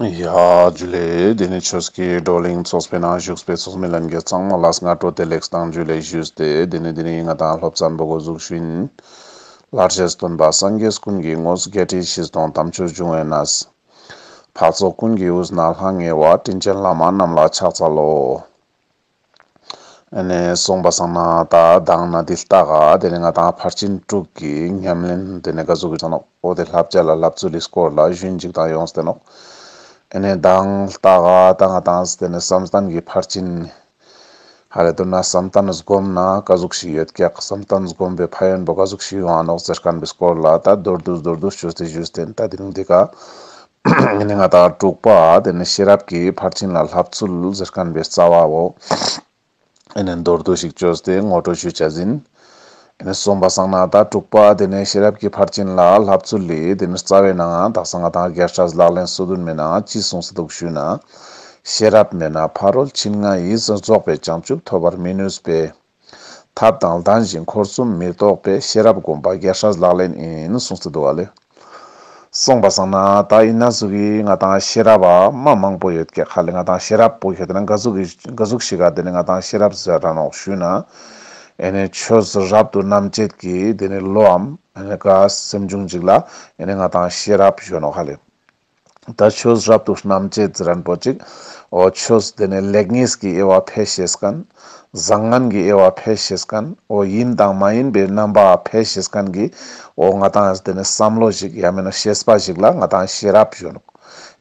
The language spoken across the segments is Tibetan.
ཡ། རྒྱུ་ལས། དེ་ནས་ཆོས་ཀྱི་བགྲོ་གླེང་ཚོགས་པའི་ནང་བཞུགས་པའི་ཚོགས་མི་ལམ་གྱི་གཙང་མ་ལགས་སྔ་དྲོ་དེ་ལེགས་བཏང་རྒྱུ་ལས་བཞུད་དེ་དེ་ནས་དེ་རིང་ང་དང་སློབ་ཚན་པོ་སྒོ་གཟུགས་ཤུན། ལྷར་བཅས་སྟོན་པ་སངས་རྒྱས་ཀུན་གྱི་དངོས་སུ་བརྒྱད་ཁྲི་ཕྱི་སྟོང་དམ་ཆོས་འབྱུང་བས་ན། འཕགས་ཚོགས་ཀུན་གྱི་དབུས་ན་ལྷང་ངེ་བ་དྲིན་ཅན་བླ་མ་རྣམས་ལ་ཕྱག་འཚལ་ལོ། ནས་སོང་པ་སང་ན་ད་གདང་ན་འདི་ལྟ་ག་དེ་ནས་ང་དང་ཕར་ཕྱིན་དྲུག་གི་ཉམས་ལེན་དེ་ནས་ག་ཟུག་གི་ཚོ་ནོག་ཨོ་དེ་ལབ་བྱ་ལ་ལབ་ཚུལ་ལི་སྐོར་ལ་ཞུན་འཇིག་དང་ཡོང་སྟེ་ནོག་ཨེ་ནས་གདང་ལྟ་ག་ད་ང་དང་དེ་ནས་སམ་སྟན་གི་ཕར་ཕྱིན་ཧ་རེ་དུ་ན་སམ་སྟན་བསྒོམ་ན་ག་ཟུག་ཞིག་ཡོད་ཀྱག་སམ་སྟན་བསྒོམ་པའི་ཕ་ཡོན་པོ་ག་ཟུག་ཞིག་ཡོང་ཨ་ནོག་ཙེ་སྐར་འབི་སྐོར་ལ་ད་རྡོར་འདུག་རྡོར་འདུག་ཞུ་སྟེ་ཞུ་སྟེ་ད་དེ་རིང་འདི་ག་ནི་ང་དང་དྲུག་པ་དེ་ནི་ཤེས་རབ་ཀྱི་ཕར་ཕྱིན་ལ་ལྷབ་ཚུལ་གཟེར་དཀན་པའི་རྩ་བའོ། ཨེ་ནི་མདོར་བསྡུ་ཞིག་བཅོས་ཏེ་ངོ་སྤྲོད་ཞུ་བྱ་ཟིན། ཨེ་ནི་གསུམ་པ་སང་ན་དང་དྲུག་པ་དེ་ནི་ཤེས་རབ་ཀྱི་ཕར་ཕྱིན་ལ་ལྷབ་ཚུལ་ལས་དེ་ནི་རྩ་བས་ནའང་དག་ས་ང་དང་སྒེར་ཕྲལ་ལག་ལེན་སོ་བདུན་མེད་ནའང་ཅི་གསུངས་ས་འདུག་ཞུས་ན། ཤེས་རབ་མེད་ན་ཕ་རོལ་ཕྱིན་ང་ཡིས་རྫོགས་པའི་བྱང་ཆུབ་ཐོབ་པར་མི་ནུས་པས། ཐབས་དང་ལྡན་བཞིན་འཁོར་གསུམ་མི་རྟོག་པའི་ཤེས་རབ་བསྒོམ་པ་རྒྱ་ཧྲཱི་ལག་ལེན་ཨིན་གསུང་ཚུལ་དུ་བ་ལས་གསུངས་པ་བསམ་ན་ད་ཡིན་ན་གཟུགས་ཀྱི་ང་དང་ཤེས་རབ་བ་མ་མང་པོ་ཡོད་སྐད་ཁ་ལས་ང་དང་ཤེས་རབ་པོ་ཞེས་བསྡད་ན་འགའ་གཟུགས་ཀྱི་འགའ་གཟུགས་ཤེས་ག་དེ་ནས་ང་དང་ཤེས་རབ་ཟེར་ར་ནོག་ཞུས་ན་ཨེ་ནས་ཆོས་ཟེར་རབ་ཏུ་རྣམ་དཔྱད་ཀྱི་དེ་ནས་བློའམ་ཨེ་ནས་ཀ་སེམས་འབྱུང་འཇིག་ལ་ཨེ་ནས་ང་དང་ཤེས་རབ་བཞོན་ནོ་ཁ་ལས། ད་ཆོས་རབ་ཏུ་རྣམ་རྒྱལ་རྫི་རན་པོ་ཅིག་འོ་ཆོས་འདི་ནི་ལེགས་ཉེས་ཀྱི་དབྱེ་བ་ཕལ་ཞེས་ཀན། བཟང་ངན་གྱི་དབྱེ་བ་ཕལ་ཞེས་ཀན་འོ་ཡིན་དང་མ་ཡིན་པའི་རྣམ་པ་ཕལ་ཞེས་ཀན་གྱི་འོ་ང་དང་འདི་ནི་བསམ་བློ་ཞིག་ཡང་མིན་ན་ཤེས་པ་ཞིག་ལ་ང་དང་ཤེས་རབ་གཞོན་ནུ་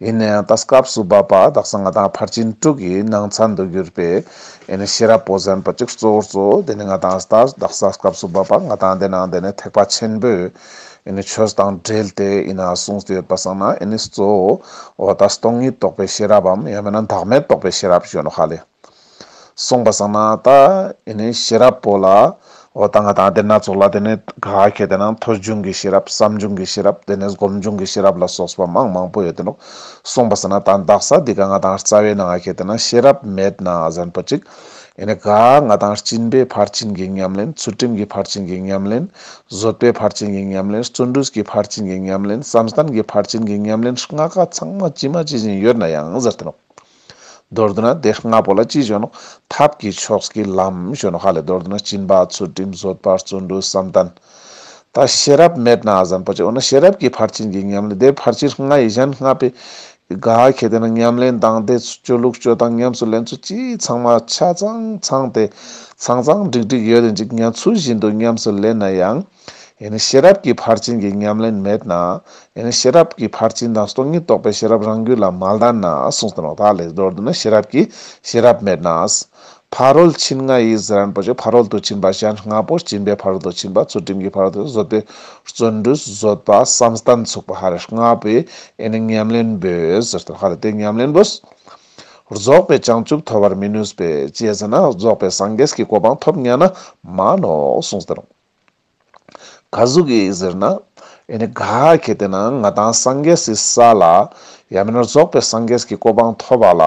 ཡིན་ན་ཡང་ད་སྐབས་སུ་བབ་པ་དག་སང་ང་དང་ཕར་ཕྱིན་དྲུག་གི་ནང་ཚན་དུ་གྱུར་པས་ཡིན་ན་ཤེས་རབ་པོ་ཟན་པོ་ཅིག་གཙོ་བོར་གཙོ་བོ་འདི་ནི་ང་དང་ད་སྐབས་སུ་བབ་པ་ང་དང་འདི་ནང་འདི་ནི་ཐེག་པ་ཆེན་པོའི་ཆོས་དང་འབྲེལ་ཏེ་ཡིན་ན་གསུངས་ཡོད་པར་བསམ་ན་གཙོ་བོ་ད་སྟོང་ཉིད་རྟོགས་པའི་ཤེས་རབ་བམ་ཡང་མིན་ན་བདག་མེད་རྟོགས་པའི་ཤེས་རབ་གཞོན་ནུ་ཧ་ལས་གསུངས་པར་བསམ་ན་ད་ཤེས་རབ་པོ་ལ་ད་ང་དང་སྡེ་སྣ་ཚོགས་ལ་དེ་ནས་ག་གེ་དེ་ན་མཐོ་འབྱུང་གི་ཤེས་རབ་བསམ་འབྱུང་གི་ཤེས་རབ་དེ་ནས་སྒོམ་འབྱུང་གི་ཤེས་རབ་ལ་སོགས་པ་མང་མང་པོ་ཡོད་དེ་ནོ་གསུངས་པར་བསམ་ན་ད་འདག་ས་འདི་ག་ང་དང་རྩ་བའི་ན་ག་གེ་དེ་ན་ཤེས་རབ་མེད་ན་གཟན་པོ་གཅིག། ཡེ་ནས་གཱ། ང་དང་སྤྱིན་པའི་ཕར་ཕྱིན་གྱི་ཉམས་ལེན་ཚུལ་ཁྲིམས་ཀྱི་ཕར་ཕྱིན་གྱི་ཉམས་ལེན། བཟོད་པའི་ཕར་ཕྱིན་གྱི་ཉམས་ལེན་བརྩོན་འགྲུས་ཀྱི་ཕར་ཕྱིན་གྱི་ཉམས་ལེན་བསམ་གཏན་གྱི་ཕར་ཕྱིན་གྱི་ཉམས་ལེན་ལྔ་ཀ་ཚང་མ་ཅི་མ་ཅི་བཞིན་ཡོད་ན་ཡང་ཟེར་ཐུབ། མདོར་བསྡུ་ན་དེ་ལྔ་པོ་ལ་ཅི་ཞོན་ནོ། ཐབས་ཀྱི་ཕྱོགས་ཀྱི་ལམ་ཞོན་ནོ་ཧ་ལས་མདོར་བསྡུ་ན་སྤྱིན་པ་ཚུལ་ཁྲིམས་བཟོད་པ་བརྩོན་འགྲུས་བསམ་གཏན། ད་ཤེས་རབ་མེད་ན་ཨ་བཟའ་འཕོ་བྱེད་འོ་ན་ཤེས་རབ་ཀྱི་ཕར་ཕྱིན་གྱི་ཉམས་ལེན་དེ་ཕར་ཕྱིན་ལྔ་ཡི་གཞན་ལྔ་པའི་ག་གེ་དེ་ན་ཉམས་ལེན་དང་དེ་ཚོ་སྤྱོད་ལུགས་སྤྱོད་སྟངས་ཉམས་སུ་ལེན་ཚུལ་སྤྱི་ཚང་མ་ཆ་ཚང་ཚང་སྟེ་ཚང་ཚང་འགྲིག་འགྲིག་ཡོད་རེད་འཇིག་ཉམས་ཚུལ་བཞིན་དུ་ཉམས་སུ་ལེན་ན་ཡང་ཡིན་ནི་ཤེས་རབ་ཀྱི་ཕར་ཕྱིན་གྱི་ཉམས་ལེན་མེད་ན་ཡིན་ནི་ཤེས་རབ་ཀྱི་ཕར་ཕྱིན་དང་སྟོང་ཉིད་རྟོགས་པའི་ཤེས་རབ་རང་རྒྱུད་ལ་མ་ལྡན་ན་གསུངས་ཟིན་རོགས་ད་ལེགས་སྦྱོར་བསྡུ་ན་ཤེས་རབ་ཀྱི་ཤེས་རབ་མེད་ན། ཕ་རོལ་ཕྱིན་ལྔ་ཡི་གཟི་རན་པོ་ཆེ་ཕ་རོལ་ཏུ་ཕྱིན་པ་གཞན་ལྔ་པོ་སྤྱིན་པའི་ཕ་རོལ་ཏུ་ཕྱིན་པ་ཚུལ་ཁྲིམས་ཀྱི་ཕ་རོལ་ཏུ་བཟོད་པའི་བརྩོན་འགྲུས་བཟོད་པ་བསམ་གཏན་ཚུགས་པ་ཧ་རེ་ལྔ་པོའི་ཨེ་ནི་ཉམས་ལེན་པོའི་ཟེར་དོན་ཧ་རེ་དེ་ཉམས་ལེན་པོས་རྫོགས་པའི་བྱང་ཆུབ་ཐོབ་པར་མི་ནུས་པས་དཔྱད་ཟིན་ན་རྫོགས་པའི་སངས་རྒྱས་ཀྱི་གོ་འཕང་ཐོབ་སྙམ་ན་མ་ནོ་གསུངས་ཟེར། ག་ཟུག་གི་ཟེར་ན། ཨེ་ནི་ག་གེ་དེ་ན་ང་དང་སངས་རྒྱས་སི་ས་ལ། ཡང་མིན་ན་རྫོགས་པའི་སངས་རྒྱས་ཀྱི་གོ་འཕང་ཐོབ་བ་ལ།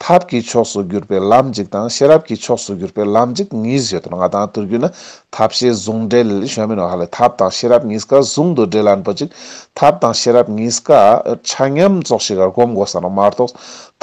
ཐབས་ཀྱི་ཕྱོགས་སུ་གྱུར་པའི་ལམ་འཇིག་དང་ཤེས་རབ་ཀྱི་ཕྱོགས་སུ་གྱུར་པའི་ལམ་འཇིག་གཉིས་བཞེད་དོ་ང་དང་དུར་གྱུར་ན་ཐབས་ཤེས་ཟུང་འབྲེལ་ཞོན་མིན་ནོ་ཧ་ལས་ཐབས་དང་ཤེས་རབ་གཉིས་ཀ་ཟུང་དུ་འབྲེལ་ལ་འགྲོ་ཅིག་ཐབས་དང་ཤེས་རབ་གཉིས་ཀ་ཆ་མཉམ་རྫོགས་ཤིག་གར་བསྒོམ་དགོས་བསམ་ལ་མ་རྟོགས་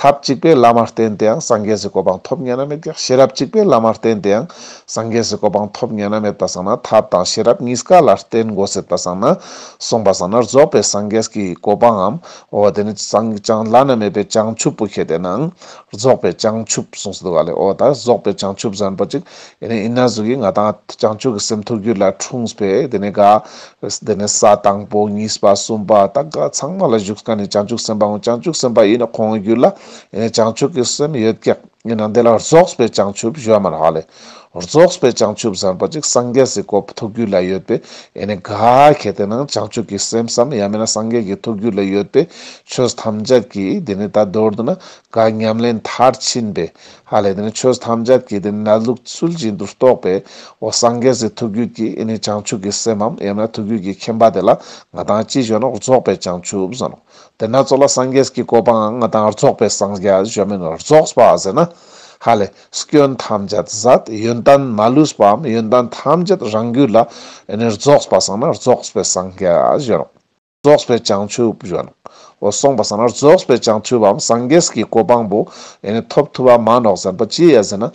ཐབས་གཅིག་པའི་བླ་མར་བསྟེན་དེའང་སངས་རྒྱས་སུ་གོ་འཕང་ཐོབ་ཉན་ན་མེད་ཀྱང་ཤེས་རབ་གཅིག་པའི་བླ་མར་བསྟེན་དེའང་སངས་རྒྱས་སུ་གོ་འཕང་ཐོབ་ཉན་ན་མེད་པར་བསམས་ན་ཐབས་དང་ཤེས་རབ་གཉིས་ཀ་ལ་བསྟེན་དགོས་ཟེར་པར་བསམས་ན། གསུངས་པར་བསམས་ན་རྫོགས་པའི་སངས་རྒྱས་ཀྱི་གོ་འཕང་ངམ། འོ་བ་དེ་ནི་སངས་ཀྱང་བླ་ན་མེད་པའི་བྱང་ཆུབ་བུ་ཁྱེད་དེ་ནའང་རྫོགས་པའི་བྱང་ཆུབ་གསུངས་སུ་འདུག་ག་ལེ་འོ་ད་རྫོགས་པའི་བྱང་ཆུབ་ཟན་པ་ཅིག་དེ་ནས་ཨིན་ན་གཟུགས་ཀྱི་ང་དང་བྱང་ཆུབ་ཀྱི་སེམས་ཐུགས་རྒྱུད་ལ་འཁྲུངས་པས་དེ་ནས་དགའ། དེ་ནས་ས་དང་པོ་གཉིས་པ་གསུམ་པ་དང་དགའ་ཚང་མ་ལ་བཞུགས་ཀ་ནས་བྱང་ཆུབ་སེམས་དཔའ་འོང་བྱང་ཆུབ་སེམས་དཔའ་ཡིན་ན་ཁོང་གི་རྒྱུད་ལ་བྱང་ཆུབ་ཀྱི་སེམས་ཡོད་ཀྱི། ཡིན་ན་དེ་ལ་རྫོགས་པའི་བྱང་ཆུབ་བཞོ་མ་ལགས་ལས། རྫོགས་པའི་བྱང་ཆུབ་ཟེར་བ་ཅིག་སངས་རྒྱས་སུ་གོ་ཐུགས་རྒྱུད་ལ་ཡོད་པས་ཡེ་ནས་དགའ། གལ་ཏེ་ན་བྱང་ཆུབ་ཀྱི་སེམས་སམ་ཡང་མིན་ན་སངས་རྒྱས་ཀྱི་ཐུགས་རྒྱུད་ལ་ཡོད་པས་ཆོས་ཐམས་ཅད་ཀྱིས་དེ་ནས་ད་རྡོར་དུ་ན་དགའ་ཉམས་ལེན་མཐར་ཕྱིན་པས་ཧ་ལས་ནས་ཆོས་ཐམས་ཅད་ཀྱི་དེ་ནས་ལུགས་ཚུལ་བཞིན་དུ་རྟོགས་པའི་འོ་སངས་རྒྱས་སུ་ཐུགས་རྒྱུད་ཀྱི་ཨེ་ནི་བྱང་ཆུབ་ཀྱི་སེམས་འམ་ཡང་ན་ཐུགས་རྒྱུད་ཀྱི་མཁྱེན་པ་དེ་ལ་ང་དང་ཅི་གཞོལ་ན་རྫོགས་པའི་བྱང་ཆུབ་ཟེར་ནོ། དེ་ན་གཙོ་ལ་སངས་རྒྱས་ཀྱི་བཀོད་པའང་ང་དང་རྫོགས་པའི་སངས་རྒྱས་གཞོལ་མིན་རྫོགས་པ་ཟེར་ན། ཧ་ལས་སྐྱོན་ཐམས་ཅད་ཟད་ཡོན་ཏན་མ་ལུས་པའམ་ཡོན་ཏན་ཐམས་ཅད་རང་རྒྱུད་ལ་ཨེ་ནི་རྫོགས་པ་སངས་ན་རྫོགས་པའི་སངས་རྒྱས་གཞོལ་ནོ། རྫོགས་པའི་བྱང་ཆུབ་ཡོནའོ་གསུངས་པ་ཟ་ན་རྫོགས་པའི་བྱང་ཆུབ་བམ་སངས་རྒྱས་ཀྱི་གོ་འཕང་པོ་ཡེ་ནས་ཐོབ་ཐུབ་བ་མ་ནོག་ཟེར་པ་ཅི་ཡད་ཟེར་ན།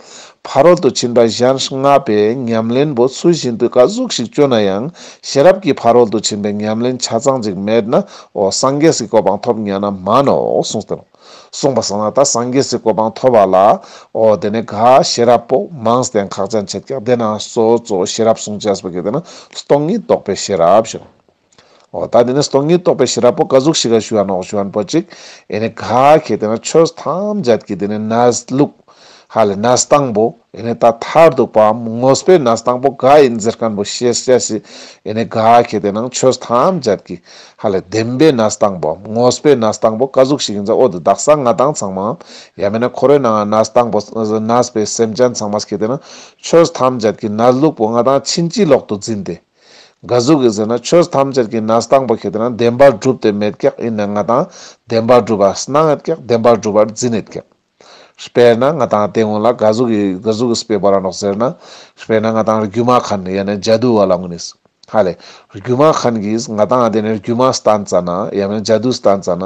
ཕ་རོལ་ཏུ་ཕྱིན་པ་གཞན་ལྔ་པའི་ཉམས་ལེན་པོ་ཚུལ་བཞིན་དུ་ཀ་གཟུགས་ཤིག་སྤྱོད་ན་ཡང་ཤེས་རབ་ཀྱི་ཕ་རོལ་ཏུ་ཕྱིན་པའི་ཉམས་ལེན་ཆ་ཚང་ཅིག་མེད་ནའོ་སངས་རྒྱས་ཀྱི་གོ་འཕང་ཐོབ་མྱ་ན་མ་ནོའོ་གསུངས་ཏེ། གསུངས་པ་ཟ་ན་ད་སངས་རྒྱས་ཀྱི་གོ་འཕང་ཐོབ་བ་ལའོ་དེ་ནས་ག་ཤེས་རབ་པོ་མང་སྟེང་ཁག་ཅན་ཕྱེད་ཀྱང་དེ་ན་སོ་སོ་ཤེས་རབ་གསུངས་བྱས་པ་གིས་དེ་ན་སྟོང་ཉིད་རྟོགས་པའི་ཤེས་རབ་བཞིན། ཨོ་ད་འདི་ནི་སྟོང་ཉིད་རྟོགས་པའི་ཤེས་རབ་པོ་དཀའ་གཟུགས་ཤི་ག་ཞུ་བ་ནོག་ཞུ་བ་པོ་ཅིག་ཨེ་ནི་ག་གེ་དེ་ན་ཆོས་ཐམས་ཅད་ཀྱི་དེ་ནི་ནས་ལུག། ཧ་ལས་ནས་དང་པོ་ཨེ་ནི་ད་ཐར་འདུག་པའམ་དངོས་པོའི་ནས་དང་པོ་ག་ཨིན་ཟེར་ཀན་པོ་ཤེས་བྱ་ཞི་ཨེ་ནི་ག་གེ་དེ་ན་ཆོས་ཐམས་ཅད་ཀྱི་ཧ་ལས་བདེན་པའི་ནས་དང་པོའམ་དངོས་པོའི་ནས་དང་པོ་དཀའ་གཟུགས་ཤིག་ཡིན་ཟེར་འོ་དུ་བདག་གསང་སྔགས་དང་ཚང་མའམ་ཡ་མེད་ན་ཁོ་རོའི་ནང་ན་ནས་དང་པོ་ནས་པའི་སེམས་ཅན་ཚང་མ་གེ་དེ་ན་ཆོས་ཐམས་ཅད་ཀྱི་ནས་ལུག་པོ་ང་དང་ཕྱིན་ཅི་ལོག་ཏུ་འཛིན་ཏེ། འགའ་གཟུགས་ཀྱིས་ཟེར་ན་ཆོས་ཐམས་ཅད་ཀྱི་ནས་སྟངས་པ་གྱིས་དེ་ན་བདེན་པར་བསྒྲུབས་ཏེ་མེད་སྐྱེགས་ཡིན་ནས་ང་དང་བདེན་པར་བསྒྲུབས་པ་སྣང་ཡེད་སྐྱེགས་བདེན་པར་བསྒྲུབས་པར་འཛིན་ཡེད་སྐྱེགས། དཔེར་ན་ང་དང་དེ་སྔོན་ལ་འགའ་གཟུགས་ཀྱིས་འགའ་གཟུགས་ཀྱིས་བསྤས་པ་རང་རྟོགས་ཟེར་ན། དཔེར་ན་ང་དང་རྒྱུ་མ་གྷན་ཡེ་ནས་རྒྱ་དུ་བ་ལ་ངོས་ནས། ཧ་ལས། རྒྱུ་མ་གྷན་གྱིས་ང་དང་དེ་ནས་རྒྱུ་མ་སྟན་ཙ་ན་ཡང་ན་རྒྱ་དུ་སྟན་ཙ་ན།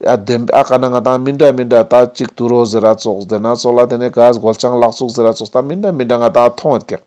ཡ་བདེན་པས་ཨ་ག་ན་ང་དང་མི་འདྲ་མི་འདྲ་ད་གཅིག་ཏུ་རོ་ཟེར་ར་ཙོགས་བདེན་ན་ཙོགས་ལ་དེ་ནས་འགའ་གཟུགས་ལ་ཆང་ལག་ཙོགས་ཟེར་ར་ཙོགས་ད་མི་འདྲ་མི་འདྲ་ང་དང་མཐོང་ཡེད་སྐྱེགས།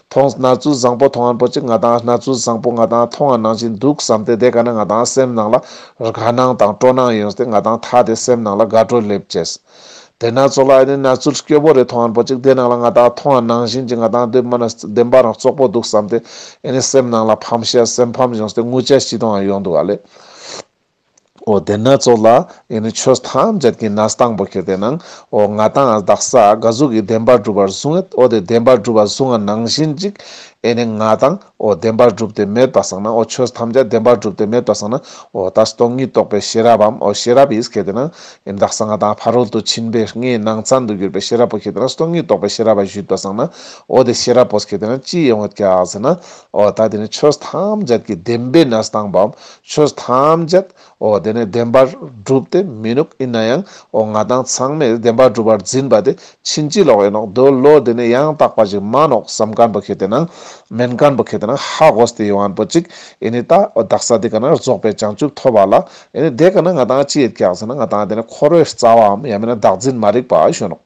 ཐོངས་སྣ་ཚུལ་བཟང་པོ་ཐོང་ང་འགྲོ་ཅི་ང་དང་སྣ་ཚུལ་བཟང་པོ་ང་དང་ཐོང་ང་ནང་བཞིན་འདུག་བསམ་སྟེ་དེ་ག་ན་ང་དང་སེམས་ནང་ལ་རག་སྣང་དང་སྤྲོ་སྣང་ཡོང་སྟེ་ང་དང་ཐག་དེ་སེམས་ནང་ལ་དགའ་སྤྲོ་སླེབས་བྱས། དེ་ན་ཚོ་ལ་ཨ་ནི་སྣ་ཚུལ་སྐྱོ་པོ་རེ་ཐོང་ང་འགྲོ་ཅིག་དེ་ནང་ལ་ང་དང་ཐོང་ང་ནང་བཞིན་གྱི་ང་དང་སྡོད་མ་ན་བདེན་པ་རང་བཙོག་པོ་འདུག་བསམ་སྟེ་ཨ་ནི་སེམས་ནང་ལ་ཕམ་ཤ་སེམས་ཕམ་ཡོང་སྟེ་ངུ་ཆ་ཤི་དོང་ང་ཡོང་འདུག་ཨ་ལས། འོ་དེ་ན་ཚོགས་ལ་ཡེ་ནས་ཆོས་ཐམས་ཅད་ཀྱི་ནས་དང་པོ་ཁྱེར་དེ་ན་འོ་ང་དང་ཨ་བདག་ས་ག་གཟུགས་ཀྱི་བདེན་པ་བསྒྲུབ་པར་གསུང་ངེད་འོ་དེ་བདེན་པ་བསྒྲུབ་པར་གསུང་བ་ནང་བཞིན་ཅིག་ཡེ་ནས་ང་དང་འོ་བདེན་པ་བསྒྲུབ་ཏེ་མེད་པ་བསགས་ན་འོ་ཆོས་ཐམས་ཅད་བདེན་པ་བསྒྲུབ་ཏེ་མེད་པ་བསགས་ན་འོ་ད་སྟོང་ཉིད་རྟོགས་པའི་ཤེས་རབ་བམ་འོ་ཤེས་རབ་ཡིས་ཁྱེར་དེ་ན་ཡེ་བདག་ས་ང་དང་ཕ་རོལ་ཏུ་ཕྱིན་པའི་ངའི་ནང་ཚན་དུ་གྱུར་པའི་ཤེས་རབ་པོ་ཁྱེར་དེ་ན་སྟོང་ཉིད་རྟོགས་པའི་ཤེས་རབ་བ་བཞུད་པ་བསགས་ན་འོ་དེ་ཤེས་རབ་པོས་ཁྱེར་དེ་ན་ཅི་ཡིན་འོ་ཀྱཱ་ཟེར་ན་འོ་ད་དེ་ནས་ཆོས་ཐམས་ཅད་ཀྱི་བདེན་པའི་ནས་དང་པོའམ་ཆོས་ཐམས་ཅད་འོ་དེ་ནས་བདེན་པར་སྒྲུབ་སྟེ་མི་ནུབ་ཡིན་ན་ཡང་འོ་ང་དང་ཚང་མས་བདེན་པ་སྒྲུབ་པར་འཛིན་པ་དེ་ཕྱིན་ཅི་ལོག་ཡིན་ནོ་འདོད་བློ་དེ་ནས་ཡང་དག་པ་ཞིག་མ་ནོག་བསམ་དཀར་པོ་ཁྱེད་དེ་ན་མེན་དཀར་པོ་ཁྱེད་དེ་ན་ཧ་གོ་ས་དེ་ཡོང་བར་པོ་ཅིག་ཡིན་ནི་ད་འོ་བདག་ས་དེ་ག་ན་རྫོགས་པའི་བྱང་ཆུབ་ཐོབ་བ་ལ་ཡིན་ནི་དེ་ག་ན་ང་དང་ཅི་ཡོད་ཀྱག་ཟེར་ན་ང་དང་དེ་ནས་འཁོར་བའི་རྩ་བའམ་ཡང་མིན་ན་བདག་འཛིན་མ་རིག་པ་ཞོན་ནོ།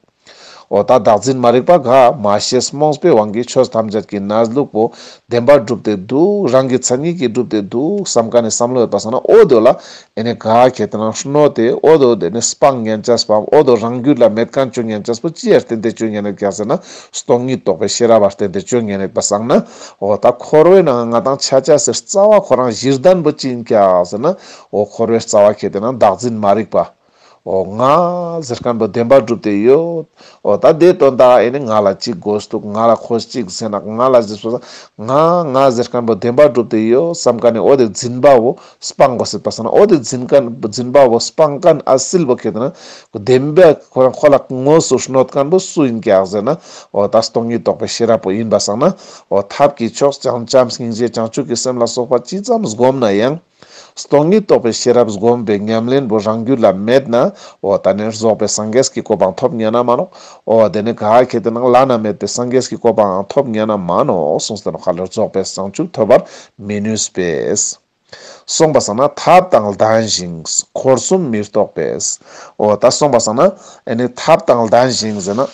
འོ་ད་བདག་འཛིན་མ་རིག་པ་འགའ་མ་ཤེས་རྨོངས་པའི་དབང་གིས་ཆོས་ཐམས་ཅད་ཀྱི་ན་ལུགས་པོ་བདེན་པར་སྒྲུབ་ཏེ་འདུག་རང་གི་མཚན་ཉིད་ཀྱིས་སྒྲུབ་ཏེ་འདུག་བསམ་ག་ནས་བསམ་བློ་ཡོད་པ་སོང་ན་ཨོ་དོ་ལ་ཨེ་ནས་ག་གེ་དེ་རང་ཧྲནོ་དེ་ཨོ་དོ་དེ་ནས་སྤང་ངན་ཅག་སྤང་ཨོ་དོ་རང་རྒྱུད་ལ་མེད་གང་སྤྱོད་ངན་ཅག་སྤོ་ཅི་ཡར་བརྟེན་ཏེ་སྤྱོད་ངན་རེད་ག་ཟེར་ན་སྟོང་ཉིད་རྟོགས་པའི་ཤེས་རབ་བར་བརྟེན་ཏེ་སྤྱོད་ངན་རེད་པ་སང་ན་ཨོ་ད་འཁོར་བའི་ནང་ང་དང་ཆ་ཆ་ཟེར་རྩ་བ་ཁོ་རང་གཞིར་ལྡན་པོ་ཅིང་ག་ཟེར་ན་ཨོ་འཁོར་བའི་རྩ་བ་ཁྱེད་དེ་རང་བདག་འཛིན་མ་རིག་པ། ཨོ་ང། ཟེར་མཁན་པོ་བདེན་པ་བསྒྲུབ་དེ་ཡོད། ཨོ་ད་དེའི་དོན་དག་ཨེ་ནི་ང་ལ་གཅིག་དགོས་འདུག་ང་ལ་ཁོ་གཅིག་བཟས་ན་ང་ལ་བཟས་སོ། ང། ང་ཟེར་མཁན་པོ་བདེན་པ་བསྒྲུབ་དེ་ཡོད་བསམ་ཀ་ནི་ཨོ་དེ་འཛིན་པ་བོ་སྤང་གོ་སྲིད་པ་བསམ་ན་ཨོ་དེ་འཛིན་མཁན་འཛིན་པ་བོ་སྤང་ཀ་ནི་ཨ་སིལ་བོ་ཁེ་དེ་ན་ཁོ་བདེན་པས་ཁོ་རང་ཁོ་ལ་དངོས་སུ་གནོད་མཁན་པོ་སུ་ཡིན་གྱི་ཨག་ཟེར་ན་ཨོ་ད་སྟོང་ཉིད་རྟོགས་པའི་ཤེས་རབ་པོ་ཡིན་པ་བསམ་ན་ཨོ་ཐབས་ཀྱི་ཕྱོགས་བྱང་བྱམས་སྙིང་རྗེ་བྱང་ཆུབ་ཀྱི་སེམས་ལ་སོགས་པ་ཅི་ཙམ་བསྒོམས་ན་ཡང། སྟོང་ཉིད་རྟོགས་པའི་ཤེས་རབ་སྒོམ་པའི་ཉམས་ལེན་པོ་རང་རྒྱུད་ལ་མེད་ན། འོ་ད་ནི་རྫོགས་པའི་སངས་རྒྱས་ཀྱི་གོ་འཕང་ཐོབ་ཉན་ན་མ་ནོ། འོ་དེ་ནི་ག་གེ་དེ་ན་བླ་ན་མེད་པའི་སངས་རྒྱས་ཀྱི་གོ་འཕང་འང་ཐོབ་ཉན་ན་མ་ནོ་གསུངས་ཟིན་ནོ་ག་ལ་རྫོགས་པའི་བྱང་ཆུབ་ཐོབ་པར་མི་ནུས་པས། སོང་པ་སང་ན་ཐབས་དང་ལྡན་ཞིང་འཁོར་གསུམ་མི་རྟོགས་པས། འོ་ད་སོང་པ་སང་ན་ནི་ཐབས་དང་ལྡན་ཞིང་ཟེར་ན།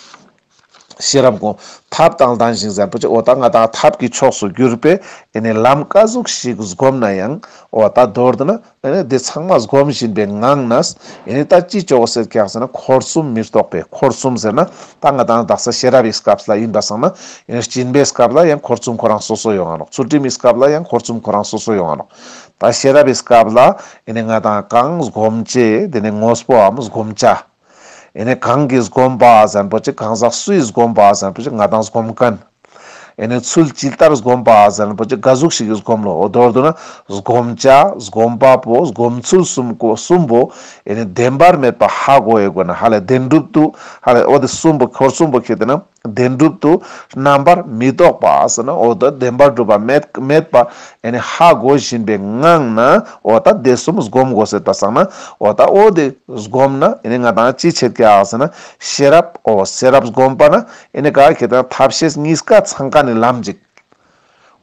ཤེས་རབ་གོང་ཐབས་དང་ལྡན་ཞིང་གཟར་པོ་ཆེ་འོ་ད་ང་དང་ཐབས་ཀྱི་ཕྱོགས་སུ་གྱུར་པས་ནི་ལམ་དཀའ་གཟུགས་ཤིག་བསྒོམ་ན་ཡང་འོ་ད་མདོར་ན་ནི་དེ་ཚང་མ་བསྒོམ་བཞིན་པའི་ངང་ན་ནི་ད་ཅི་བྱའོ་ཟེར་གྱི་ཡང་ཟེར་ན་འཁོར་གསུམ་མི་རྟོག་པས་འཁོར་གསུམ་ཟེར་ན་ད་ང་དང་བདག་ས་ཤེས་རབ་ཡི་སྐབས་ལ་ཡིན་པར་སངས་ན་ནི་སྦྱིན་པའི་སྐབས་ལ་ཡང་འཁོར་གསུམ་ཁོ་རང་སོ་སོ་ཡོང་ང་རོག་ཚུལ་ཁྲིམས་ཡི་སྐབས་ལ་ཡང་འཁོར་གསུམ་ཁོ་རང་སོ་སོ་ཡོང་ང་རོག་ད་ཤེས་རབ་ཡི་སྐབས་ལ་ནི་ང་དང་གང་བསྒོམ་བྱེད་དེ་ནི་ངོ་བོའམ་བསྒོམ་བྱ། ཨེ་ནས་གང་གིས་སྒོམ་པ་གཟན་པོ་ཅིག་གང་ཟག་སུས་སྒོམ་པ་གཟན་པོ་ཅིག་ང་དང་སྒོམ་མཁན། ཨེ་ནས་ཚུལ་ཇི་ལྟར་སྒོམ་པ་གཟན་པོ་ཅིག་དགའ་གཟུགས་ཤིག་གིས་སྒོམ་ལོ་འོ་དོར་དུ་ན་སྒོམ་བྱ་སྒོམ་པ་པོ་སྒོམ་ཚུལ་གསུམ་གོ་གསུམ་པོ་ཨེ་ནས་བདེན་པར་མེད་པ་ཧ་གོ་ཨེ་གོ་ན་ཧ་ལས་བདེན་གྲུབ་ཏུ་ཧ་ལས་འོ་དེ་གསུམ་པོ་འཁོར་གསུམ་པོ་ཁེགས་དེ་ན། བདེན་གྲུབ་ཏུ་རྣམ་པར་མི་རྟོག་པ། འོ་ད་བདེན་པར་གྲུབ་པ་མེད་པ། ཧ་གོ་བཞིན་པའི་ངང་ན་འོ་ད་དེ་གསུམ་བསྒོམ་དགོས་ཟེར་བ་སང་ན་འོ་ད་ཨོ་དེ་བསྒོམ་ན་ང་དང་ཅི་བྱེད་ཀྱི་ཨ་ཟེར་ན་ཤེས་རབ་ཨོ་ཤེས་རབ་བསྒོམ་པ་ན་ཨེ་ནི་ག་གི་དང་ཐབས་ཤེས་གཉིས་ཀ་ཚང་ཀ་ནི་ལམ་ཅིག་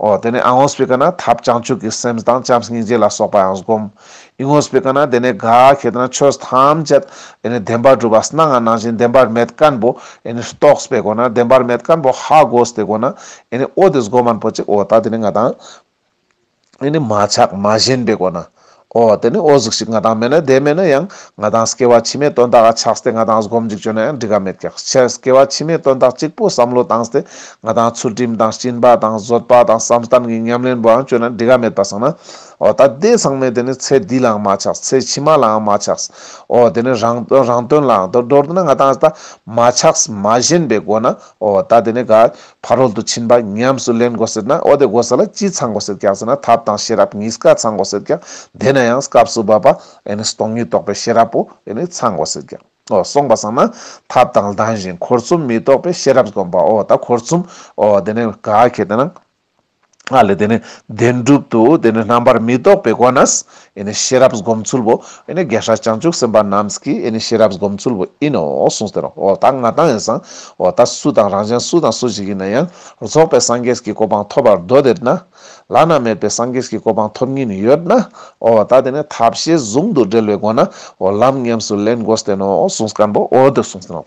ཨོ། དེ་ནས་ཨ་ངོ་སྤི་ཀ་ན་ཐབས་བྱང་ཆུབ་ཀྱི་སེམས་དང་བྱམས་སྙིང་རྗེ་ལ་སོགས་པ་ཡང་བསྒོམ། ཨི་ངོ་སྤི་ཀ་ན་དེ་ནས་ག་གེ་ཏི་ན་ཆོས་ཐམས་ཅད་དེ་ནས་བདེན་པར་གྲུབ་པ་སྣ་ལྔ་སྣང་བཞིན་བདེན་པར་མེད་བཀན་པོ་ཨེ་ནི་རྟོགས་པའི་སྒོ་ན་བདེན་པར་མེད་བཀན་པོ་ཧ་གོ་སྟེ་སྒོ་ན་ཨེ་ནི་ཨོ་དེ་སྒོམ་མ་ནི་པོ་གཅིག་ཨོ་ད་དེ་ནས་ང་དང། འདི་ནི་མ་ཆགས་མ་ཞེན་པའི་སྒོ་ན། ཨོ། དེ་ནི་ཨོ་གཟུགས་ཤིག་ང་དང་མེད་ན་དེ་མེད་ན་ཡང་ང་དང་སྐྱེ་བ་ཕྱི་མའི་དོན་དག་ཆགས་སྟེ་ང་དང་སྒོམ་འཇུག་བྱོས་ན་ཡང་འགྲིག་ག་མེད་ཀྱང་ཕྱི་སྐྱེ་བ་ཕྱི་མའི་དོན་དག་གཅིག་པུ་བསམ་བློ་བཏང་སྟེ་ང་དང་ཚུལ་ཁྲིམས་དང་སྤྱིན་པ་དང་བཟོད་པ་དང་བསམ་གཏན་གྱི་ཉམས་ལེན་པོའང་བྱོས་ན་འགྲིག་ག་མེད་པ་གསུངས་ན། ཨོ་ད་ལྟའི་ཚང་མས་དེ་ནི་ཚེ་འདི་ལའང་མ་ཆགས་ཚེ་ཕྱི་མ་ལའང་མ་ཆགས། ཨོ་དེ་ནི་རང་དོན་རང་དོན་ལའང་དོན་འགྲོར་འདོད་ན་ང་དང་ད་མ་ཆགས་མ་ཞེན་པའི་སྒོ་ན། ཨོ་ད་དེ་ནི་ག། ཕ་རོལ་ཏུ་ཕྱིན་པ་ཉམས་སུ་ལེན་དགོས་ཟེར་ན་འོ་དེ་དགོས་ས་ལ་ཅི་ཚང་དགོས་ཟེར་ཀྱང་ཟེར་ན་ཐབས་དང་ཤེས་རབ་གཉིས་ཀ་ཚང་དགོས་ཟེར་ཀྱང་དེ་ན་ཡང་སྐབས་སུ་བབ་པ་སྟོང་ཉིད་རྟོགས་པའི་ཤེས་རབ་པོ་ཚང་དགོས་ཟེར་ཀྱང་འོ་སོང་པ་ཟང་ན་ཐབས་དང་ལྡན་ཞིང་འཁོར་གསུམ་མི་རྟོགས་པའི་ཤེས་རབ་སྒོམ་པ་འོ་ད་འཁོར་གསུམ་འོ་དེ་ནས་ག་གེ་དེ་ན། ཨཱ་ལས་དེ་ནི་བདེན་གྲུབ་ཏུ་དེ་ནི་རྣམ་པར་མི་རྟོག་པའི་སྒོ་ན་ཤེས་རབ་སྒོམ་ཚུལ་བོ། རྒྱལ་སྲས་བྱང་ཆུབ་སེམས་དཔའ་རྣམས་ཀྱི་ཤེས་རབ་སྒོམ་ཚུལ་བོ་ཡིན་ནོ་གསུངས་ཟེར་རོ། ད་ང་དང་ཡང་སང། ད་སུ་དང་རང་གཞན་སུ་དང་སུ་ཞིག་ཡིན་ན་ཡང་རྫོགས་པའི་སངས་རྒྱས་ཀྱི་གོ་འཕང་ཐོབ་པར་འདོད་དེ་ན། བླ་ན་མེད་པའི་སངས་རྒྱས་ཀྱི་གོ་འཕང་ཐོབ་ཉིན་ཡོད་ན། ད་དེ་ནི་ཐབས་ཤེས་ཟུང་དུ་སྦྲེལ་བའི་སྒོ་ན། ལམ་ཉམས་སུ་ལེན་དགོས་བསྟན་ནོ་གསུངས་སྐམ་པོ་འོད་དུ་གསུངས་ཟིན་ནོ།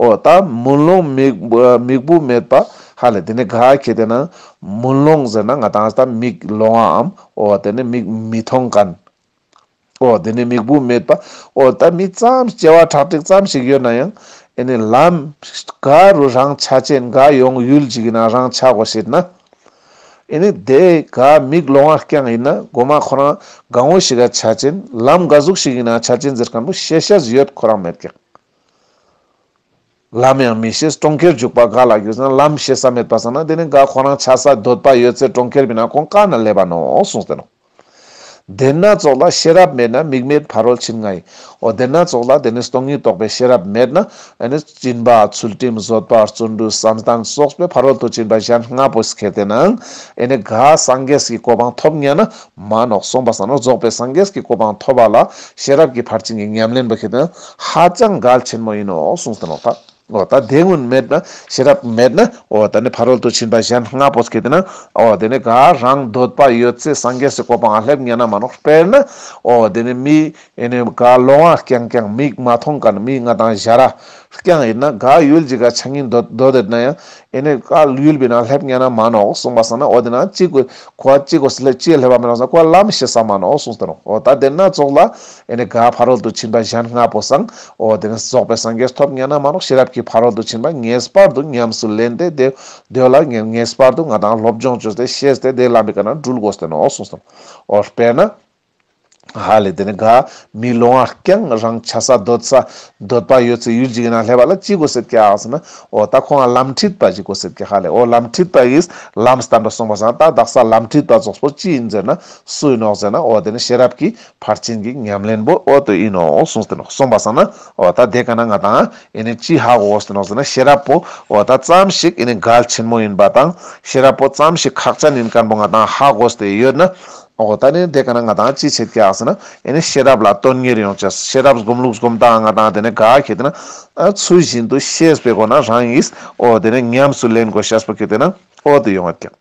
ཨོ་ད་མུན་ལོང་མིག། མིག་བུ་མེད་པ། ཧ་ལས་དེ་ནས་ག་གེ་དེ་ན། མུན་ལོང་ཟེར་ན་ང་དང་ད་མིག་ལོང་ཨ་འམ། ཨོ་དེ་ནས་མིག་མི་མཐོང་ག་ན། ཨོ་དེ་ནས་མིག་བུ་མེད་པ། ཨོ་ད་མི་ཙམ་སྐྱེ་བ་ཁྲག་ཁྲིག་ཙམ་ཞིག་ཡོད་ན་ཡང། ཨེ་ནས་ལམ། ག་རུ་རང་ཆ་ཅན་ག་ཡོང་ཡུལ་ཅིག་ཡིན་ན་རང་ཆ་གོ་ཞེས་ན། ཨེ་ནས་དེ་ག་མིག་ལོང་ཨ་རྐྱང་ཡིན་ན་སྒོ་མ་ཁོ་རང་ག་ངོ་ཞིག་ག་ཆ་ཅན་ལམ་ག་གཟུགས་ཤིག་ཡིན་ན་ཆ་ཅན་ཟེར་ག་འདུག་ཤེས་བྱ་ཡོད་ཁོ་རང་མེད་ཀྱང། ལམ་ཡང་མི་ཤེས་གྲོང་ཁྱེར་འཇུག་པ་དགའ་ལ་རྒྱུ་ཟན་ལམ་ཤེས་ས་མེད་པར་བསམ་ན་དེ་ནི་དགའ་ཁོ་རང་ཆགས་ས་འདོད་པ་ཡོད་ཚད་གྲོང་ཁྱེར་མིན་ན་ཁོང་དཀའ་ན་ལས་པ་ནོ་གསུངས་ཟེར་ནོ། བདེན་སྣ་ཚོགས་ལ་ཤེས་རབ་མེད་ན་མིག་མེད་ཕ་རོལ་ཕྱིན་ང་ཡིན་འོ་བདེན་སྣ་ཚོགས་ལ་དེ་ནི་སྟོང་ཉིད་རྟོགས་པའི་ཤེས་རབ་མེད་ན་ཨེ་ནི་སྤྱིན་པ་ཚུལ་ཁྲིམས་བཟོད་པ་བརྩོན་འགྲུས་བསམ་གཏན་སོགས་པའི་ཕ་རོལ་དུ་ཕྱིན་པ་གཞན་ལྔ་པོ་ཞིག་ཁེལ་ཏེ་ནའང་ཨེ་ནི་དགའ་སངས་རྒྱས་ཀྱི་གོ་འཕང་ཐོབ་ཉན་ན་མ་ནོག་གསུངས་པ་ཟང་ནོར་རྫོགས་པའི་སངས་རྒྱས་ཀྱི་གོ་འཕང་ཐོབ་པ་ལ་ཤེས་རབ་ཀྱི་ཕར་ཕྱིན་གྱི་ཉམས་ལེན་པ་ཞིག་ཏུ་ཧ་ཅང་གལ་ཆེན་པོ་ཡིན་ནོ་གསུངས་ཟིན་ནོ། འོ་ད་དེ་སྔོན་མེད་ན་ཤེས་རབ་མེད་ན་འོ་ད་ནི་ཕ་རོལ་ཏུ་ཕྱིན་པ་གཞན་ལྔ་པོ་སྐྱེས་ན་འོ་དེ་ནི་དགའ་རང་འདོད་པ་ཡོད་ཚད་སངས་རྒྱས་སུ་གོ་འཕང་ལེབ་ཉེ་ན་མ་ནོག་དཔེར་ན་འོ་དེ་ནི་མི། ཨེ་ནས་ག་ལོང་བ་རྐྱང་རྐྱང་མིག་མ་མཐོང་ག་ནས་མིག་ང་དང་བཞའ་ར་རྐྱང་ཨེ་ན་ག་ཡོད་ཅིག་ག་ཆ་ངན་དོད་དོད་དོད་ན་ཡང་ཨེ་ནས་ག་ཡོད་པའི་ན་སླེབས་ཉན་ན་མ་ནོག་གསུངས་པ་སང་ན་འོ་དེ་ན་ཅིག་གོ་གོ་ཨ་ཅིག་གོ་སི་ལེ་ཅིག་སླེབས་པ་མི་རང་ས་གོ་ཨ་ལམ་ཤི་ས་མ་ནོག་གསུངས་ཏེ་རོང་འོ་ད་དེ་ན་ཙོག་ལ་ཨེ་ནས་ག་ཕ་རོལ་ཏུ་ཕྱིན་པ་གཞན་ལྔ་པོ་སང་འོ་དེ་ནས་རྫོགས་པའི་སངས་རྒྱས་ཐོབ་ཉན་ན་མ་ནོག་ཤེས་རབ་ཀྱི་ཕ་རོལ་ཏུ་ཕྱིན་པ་ངེས་པར་དུ་ཉམས་སུ་ལེན་ཏེ་དེ་འདོད་ལ་ངས་ངེས་པར་དུ་ང་དང་སློབ་སྦྱོང་བྱོས་ཏེ་ཤེས་ཏེ་དེ་ལམ་པའི་ག་ན་སྦྲུལ་གོ་སྟེ་ནོག་གསུངས་སོ་འོ་དཔེར་ན། ཧ་ལས་དེ་ནི་དགའ། མི་སློང་བ་རྐྱང་རང་བྱ་ས་འདོད་ས། འདོད་པ་ཡོད་ཚེ་ཡུལ་འཇིག་ཡིན་ན་ལྷས་པ་ལ་ཅི་དགོས་ཟེར་གྱི་ཨ་ཟེར་ན། ཨོ་ད་ཁོང་ལ་ལམ་ཁྲིད་པ་ཞིག་དགོས་ཟེར་གྱི་ཧ་ལས་ཨོ་ལམ་ཁྲིད་པ་ཡིས་ལམ་བསྟན་པ་གསུངས་པ་ཟེར་ན་ད་བདག་ས་ལམ་ཁྲིད་པ་རྫོགས་པོ་ཅི་ཡིན་ཟེར་ན་སུ་ཡིན་ནོ་ཟེར་ན་ཨོ་དེ་ནི་ཤེས་རབ་ཀྱི་ཕར་ཕྱིན་གྱི་ཉམས་ལེན་པོ་ཨོ་དོ་ཡིན་ནོ་གསུངས་ཟེར་ན་གསུངས་པ་ཟེར་ན་ཨོ་ད་དེ་ག་ན་ང་དང་ཨེ་ནི་ཅི་ཧ་གོ་ཟེར་ནོ་ཟེར་ན་ཤེས་རབ་པོ་ཨོ་ད་ཙམ་ཞིག་ཨེ་ནི་གལ་ཆེན་མོ་ཡིན་པ་དང་ཤེས་རབ་པོ་ཙམ་ཞིག་ཁག་ཅན་ཡིན་ཀན་པོ་ང་དང་ཧ་གོ་ཟེར་ཡོད་ན་ཨོ་ད་ནི་དེ་ག་ན་ང་དང་ཅི་བྱེད་ཀྱི་ཨ་ཟེར་ན། ཡེ་ནས་ཤེས་རབ་ལ་དོན་གཉེར་ཡོང་བྱས། ཤེས་རབ་སྒོམ་ལུགས་སྒོམ་སྟངས་ང་དང་དེ་ནི་ག་ཁྱེད་དེ་ན། ཚུལ་བཞིན་དུ་ཤེས་པའི་སྒོ་ན་རང་ཡིས་ཨོ་དེ་ནི་ཉམས་སུ་ལེན་དགོས་ཤེས་པ་ཁྱེད་དེ་ན་ཨོ་དེ་ཡོང་བར་བསྐྱང།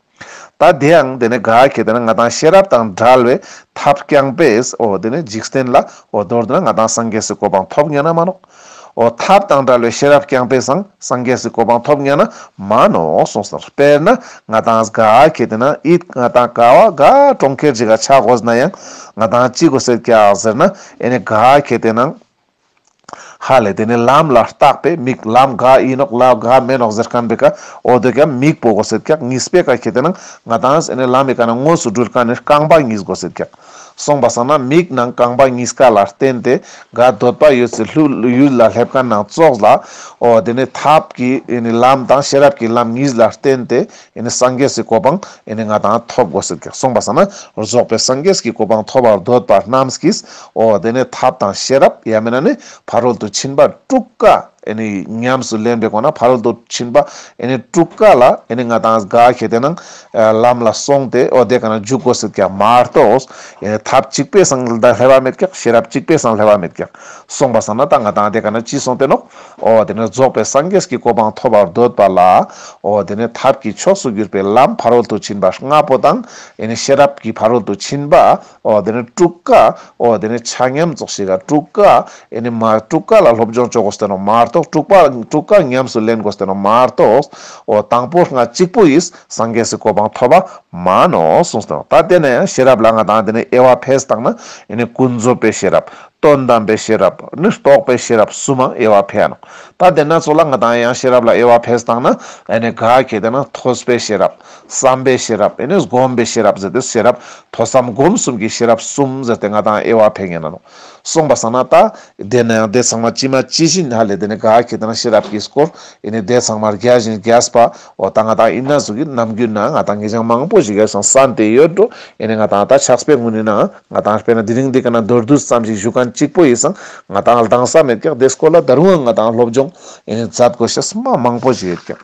ད་དེ་ཡང་དེ་ནི་ག་ཁྱེད་དེ་ན་ང་དང་ཤེས་རབ་དང་བྲལ་བའི་ཐབས་བསྐྱངས་པས་ཨོ་དེ་ནི་འཇིག་རྟེན་ལ་ཨོ་མདོར་དེ་ན་ང་དང་སངས་རྒྱས་སུ་གོ་འཕང་ཐོབ་ངེས་ན་མ་ནོག། འོ་ཐབས་དང་དགྲ་བློའི་ཤེས་རབ་རྐྱང་པས་བཟང་སངས་རྒྱས་སུ་གོ་འཕང་ཐོབ་ངེས་ན་མ་ནོ་གསུངས་སོ། དཔེར་ན་ང་དང་གཟའ་ཁྱེད་དེ་ན་ཨིཏ་ང་དང་ཀ་བ་ག་གྲོང་ཁྱེར་གཅིག་ག་ཆག་གོ་ཟེར་ན་ཡང་ང་དང་གཅིག་གོ་ཟེར་ཀྱ་ཟེར་ན་ཨེ་ནས་ག་ཁྱེད་དེ་ན་ཧ་ལས་དེ་ནས་ལམ་ལ་རྟག་པས་མིག་ལམ་ག་ཡིན་ནོག་ལ་ག་མེད་ནོག་ཟེར་ཁན་པས་ཀ་འོ་དོད་ཀྱ་མིག་པོ་གོ་ཟེར་ཀྱ་ངིས་པས་ཀ་ཁྱེད་དེ་ན་ང་དང་གཟས་ནས་ལམ་ཡི་ག་ན་དངོས་སུ་སྦྲུལ་ཀ་ནས་རྐང་པ་གཉིས་གོ་ཟེར་ཀྱ། སོང་བ་སོང་ན་མིག་ནང་རྐང་པ་གཉིས་ཀ་ལ་བརྟེན་ཏེ་ག་འདོད་པ་ཡོད་ཚེ་ལྷོད་ཡུལ་ལ་སླེབས་ག་ནང་ཙོག་ལ་འོ་དེ་ནས་ཐབས་ཀྱི་ལམ་དང་ཤེས་རབ་ཀྱི་ལམ་གཉིས་ལ་བརྟེན་ཏེ་སངས་རྒྱས་སུ་གོ་འཕང་ང་དང་ཐོབ་དགོས་ཟེར་གྱི་སོང་བ་སོང་ན་རྫོགས་པའི་སངས་རྒྱས་ཀྱི་གོ་འཕང་ཐོབ་བར་འདོད་པ་རྣམས་ཀྱིས་འོ་དེ་ནས་ཐབས་དང་ཤེས་རབ་ཡ་མེད་ན་ནི་ཕ་རོལ་ཏུ་ཕྱིན་པ་དྲུག་ཀ་ཉམས་སུ་ལེན་པའི་སྒོ་ན་ཕ་རོལ་ཏུ་ཕྱིན་པ་དྲུག་ཀ་ལ་ང་དང་ག་གལ་ཏེ་ན། ལམ་ལ་སོང་སྟེ་འོ་དེ་ག་ན་འཇུག་གོ་ཟེར་ཀྱང་མ་རྟོགས། ཐབས་གཅིག་པས་སང་ལྟར་ལྷད་བ་མེད་ཀྱང་ཤེས་རབ་གཅིག་པས་སང་ལྷད་བ་མེད་ཀྱང། སོང་པ་སང་ན་ད་ང་དང་དེ་ག་ན་ཅི་སོང་བསྟན་ནོ། འོ་དེ་ནས་རྫོགས་པའི་སངས་རྒྱས་ཀྱི་གོ་འཕང་ཐོབ་པར་འདོད་པ་ལ། འོ་དེ་ནས་ཐབས་ཀྱི་ཕྱོགས་སུ་གྱུར་པའི་ལམ་ཕ་རོལ་ཏུ་ཕྱིན་པ་ལྔ་པོ་དང། ཤེས་རབ་ཀྱི་ཕ་རོལ་ཏུ་ཕྱིན་པ། ཨོ་དེ་ནས་སྤྲུགས་ཀ་ཨོ་དེ་ནས་ཆ་མཉམ་རྫོགས་ཤིག་ག་སྤྲུགས་ཀ་ཨེ་ནས་མ་སྤྲུགས་ཀ་ལ་སློབ་སྦྱོང་བཅོ་གོ་སྟེ་ནོ་མ་གཏོགས་སྤྲུགས་པ་སྤྲུགས་ཀ་ཉམས་སུ་ལེན་གོ་སྟེ་ནོ་མ་གཏོགས། ཨོ་དང་པོ་སྔ་གཅིག་པོ་ཡིས་སངས་རྒྱས་སུ་གོ་འཕང་ཐོབ་པ་མ་ནོ་གསུངས་སྟེ་ནོ་ད་དེ་ནས་ཤེས་རབ་ལ་ང་དང་དེ་ནས་དབྱེ་བ་ཕེས་དང་ན་ཨེ་ནས་ཀུན་རྫོབ་པའི་ཤེས་རབ་དོན་དམ་པའི་ཤེས་རབ་ནི་རྟོགས་པའི་ཤེས་རབ་གསུམ་མམ་དབྱེ་བ་ཕེའ་ནོ་ད་དེ་སྣ་ཚོགས་ལ་ང་དང་ཡང་ཤེས་རབ་ལ་དབྱེ་བ་ཕེས་དང་ན་ཨེ་ནས་ག་གེ་དེ་ན་ཐོས་པའི་ཤེས་རབ། བསམ་པའི་ཤེས་རབ་ནི་སྒོམ་པའི་ཤེས་རབ་ཟེར་ཏེ་ཤེས་རབ་ཐོས་བསམ་སྒོམ་གསུམ་གྱི་ཤེས་རབ་གསུམ་ཟེར་ཏེ་ང་དང་དབྱེ་བ་འཕེལ་ངེས་ན་ནོ། གསུངས་པ་བསམ་ན་ལྟ། དེས་ན་ཡང་དེ་ཚང་མ་ཅི་མ་ཅི་བཞིན་ཧ་ལས་དེ་ནི་དགག་གི་དེ་ན་ཤེས་རབ་ཀྱིས་བསྐོར། ཡིན་ནི་དེ་ཚང་མར་བརྒྱ་བཞིན་བརྒྱ་སྤ་འོ་ད་ང་དང་དབྱིན་ན་གཟུགས་ཀྱི་རྣམ་འགྱུར་ན་ང་དང་ངེད་ཅག་མང་པོ་ཞིག་ཡོད་ཀྱང་ས་འདི་ཡོད་འགྲོ་ཡིན་ནི་ང་དང་ད་ཆགས་པའི་དངོས་ནི་ན་ང་དང་དཔེར་ན་དེ་རིང་འདི་ག་ན་མདོར་བསྡུས་ཙམ་ཞིག་བཞུགས་མཁན་གཅིག་པོ་ཡིན་སང་ང་དང་ལྡང་ས་མེད་ཀྱང་དེས་བསྐོར་ལ་ད་རུང་ང་དང་སློབ་སྦྱོང་ཡིན་ནི་མཛད་དགོས་ཤེས་སྨྲ་མང་པོ་ཞིག་ཡོད་ཀྱང།